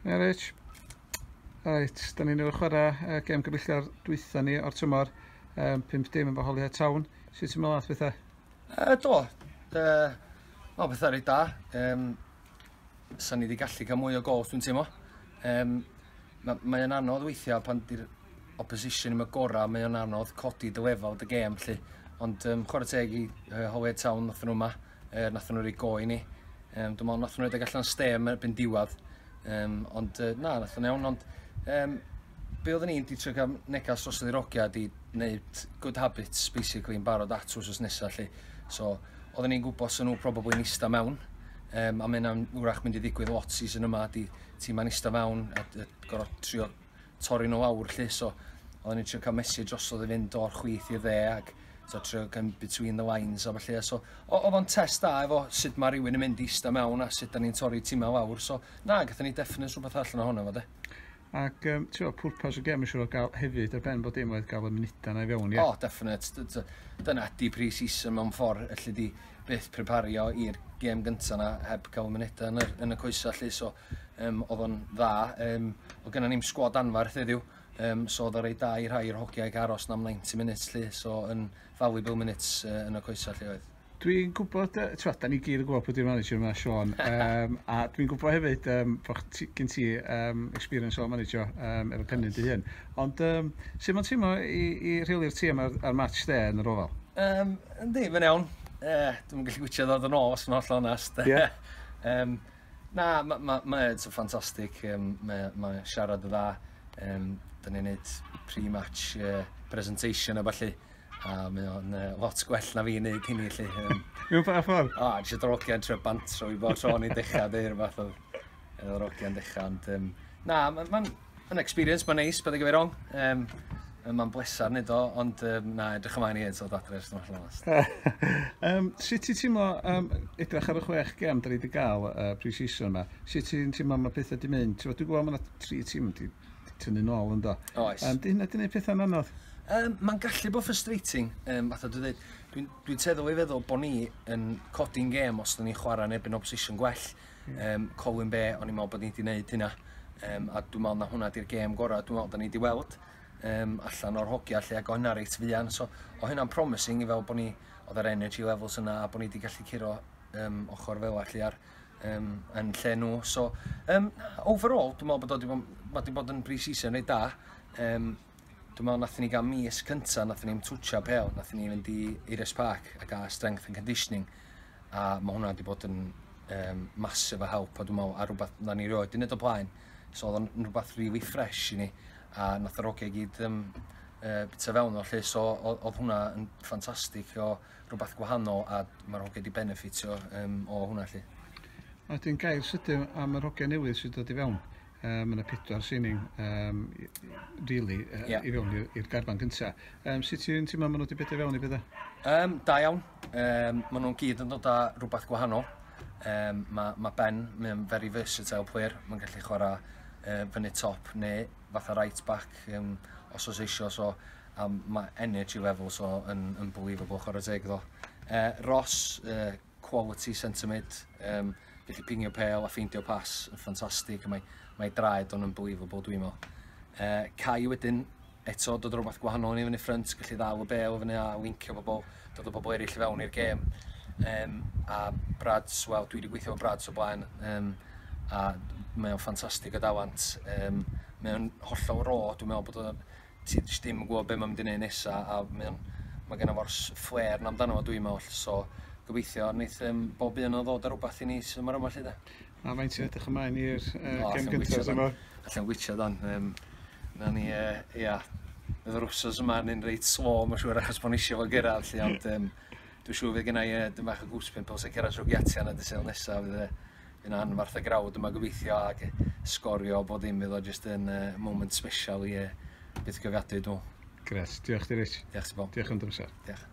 Ia Rich. Reit, da ni'n ei chwarae uh, gem gyfeillgar dwytha ni o'r tymor, um, 5 dim efo Holyhead Town. Sut ti'n meddwl at bethau? Uh, do, uh, o bethau rhaid da. Um, Sa'n ni wedi gallu cael mwy o gols dwi'n teimlo. Um, mae, mae anodd weithiau pan di'r opposition yn y gorau, mae o'n anodd codi dy lefel dy gem, lle. Ond um, chwarae teg i uh, Holyhead Town, othyn nhw yma. Er, nathon nhw rei go i ni. Um, dwi'n meddwl nathon nhw rhedeg allan stem erbyn diwad. Um, ond uh, na, nathon nhw iawn, ond um, be oedden ni'n di trio cael negas dros y ddirogiad i wneud good habits, basically, yn barod at wrth nesaf, lle. So, oedden ni'n gwybod sy'n nhw probably yn eista mewn, um, a mae'n wrach mynd i ddigwydd lot season yma, di tîm yn eista mewn, a gorau trio torri nhw lawr 'lly so oedden ni'n trio cael mesur drosodd i fynd o'r chwith i'r dde ac so trio cael between the lines a felly so oedd o'n test da efo sut mae rhywun yn mynd i ista mewn a sut da ni'n torri timau lawr so na gatho ni definite rhywbeth allan ohono fo de. Ac um, ti'n gwybod, pwrpas y gem yn siŵr o gael hefyd ar ben bod dim oedd gael y munudau na i fewn, ie? Yeah? O, oh, definite. Dyna di pre-season mewn ffordd, allu di byth prepario i'r gem gyntaf na heb gael y munudau yn, yn y coesau, allu, so Yym oedd o'n dda. Yym oedd gennym ni'm sgwad anferth heddiw yym so oedd o'n reit dda i rhai o'r hogiau gael aros 'na am 90 minutes 'lly so yn valuable minutes yy yn y coesau 'lly oedd. Dwi'n gwybod yy t'wod 'dan ni gyd yn gwybod pwy 'di'r manager yma Siôn yym a dwi'n gwybod hefyd yym bo' chdi gen ti yym experience o manager yym efo Pennyn dy hun ond yym sut ma'n teimlo i i rheoli'r tîm a'r a'r match de yn yr ofal? Yym yndi mae'n iawn yy dwi'm yn gallu gwitsiad o hyd yn ôl os dwi'n hollol onest. Ie. Yym. Na ma' ma' mae o 'di ffantastig yym mae o mae o siarad yn dda yym 'dan ni'n neud pre-match yy presentation a ballu a mae o'n yy lot gwell na fi'n neud hynny 'lly yym. Mewn pa ffordd? O jyst yr ogia'n trio bantro fi bob tro o'n i'n dechra deu' rwbath odd yy yr ogia'n dechra ond yym na ma' ma'n Mae'n experience, mae'n neis, paid â gyfeir wrong. Um, mae'n bleser wneud o, ond um, na, edrych ymlaen i hyd, so dadre, os dwi'n allan last. um, sut ti'n teimlo um, edrych ar y chwech gem da ni wedi cael uh, pre-season yma? Sut ti'n teimlo mae pethau di mynd? Ti'n gwybod mae yna tri tîm di, di tynnu nôl ynddo. Oes. Um, di hynna di wneud pethau'n anodd? Um, mae'n gallu bod frustrating, um, fatha dwi'n dweud. Dwi'n dwi teddol i feddwl bod ni yn codi'n gem os da ni'n chwarae yn erbyn opposition gwell. Yym Colwyn Bay, o'n i'n meddwl bod ni wedi gwneud hynna. Um, a dwi'n meddwl na hwnna di'r gêm gorau dwi'n meddwl da ni wedi weld um, allan o'r hogia lle ac o hynna reit fuan. So, o hynna'n promising i fel bod ni, oedd yr energy levels yna a bod ni wedi gallu curo um, ochr fel allu ar um, yn lle nhw. So, um, overall, dwi'n meddwl bod wedi bod, wedi bod yn pre-season reit da. Um, Dwi me'wl nathon ni ga'l mis cynta nathon ni'm twtshio pêl nathon ni fynd i Eirios Park a ga'l strength and conditioning a ma' hwnna 'di bod yn yym massive o help a dwi me'wl ar rwbath na ni rioed 'di neud o blaen so odd o'n yn rwbath rili ffresh i ni a nath yr ogia i gyd yym yy bita fewn o 'lly so o- odd hwnna yn ffantastig o rwbath gwahanol a ma'r hogia 'di benefitio yym o hwnna 'lly. A 'dyn gair sydyn am yr hogia newydd sy dod i fewn. um, yna pedwar signing um, really, uh, yeah. i fewn i'r garfan gyntaf. Um, sut ti'n teimlo maen nhw wedi bedio fewn i bethau? Um, da iawn. Um, maen nhw'n gyd yn dod â rhywbeth gwahanol. Um, mae ma Ben, mae'n very versatile player. Mae'n gallu chwarae uh, fyny top neu fatha right back um, os oes eisiau. So, um, mae energy level so, yn unbelievable chwarae teg ddo. Uh, Ross, uh, quality sentiment, um, gallu pingio pel a ffeindio pas yn ffantastig, mae, mae draed o'n unbelievable dwi'n meddwl. Uh, Cai wedyn, eto dod rhywbeth gwahanol yn ei fyny ffrynt, gallu ddal y bel o fyny a lincio pobl, dod o bobl eraill i fewn i'r gêm. Um, a Brads, wel, dwi wedi gweithio o Brads o blaen, um, a mae o'n ffantastig o dawant. Um, mae o'n hollol ro, dwi'n meddwl bod o'n ti jyst ddim yn gwybod be mae'n mynd i wneud nesa a mae'n, mae gen fo'r fflêr na amdano fo dwi'n meddwl, so gobeithio wneith um, bob un o'n ddod ar rhywbeth i ni sy'n yma lle da. A mae'n ti'n edrych ymlaen i'r uh, oh, gem gyntaf yma? Allan gwytio dan. Um, na ni, uh, ia, bydd yr wsos yma yn un reit slo, mae'n siŵr, achos bod ni eisiau fo gyrraedd, lle, ond um, dwi'n siŵr fydd gennau uh, dim bach o gwspyn, pils a cyrraedd trwy giatiau na dysil nesaf, fydd uh, yn anfarth y grawd yma gobeithio ac sgorio bod ddim iddo jyst yn uh, moment special i e byth gyfiadwy dw. Gret, diolch di Rich. Diolch ti Bob. Diolch am dy Diolch.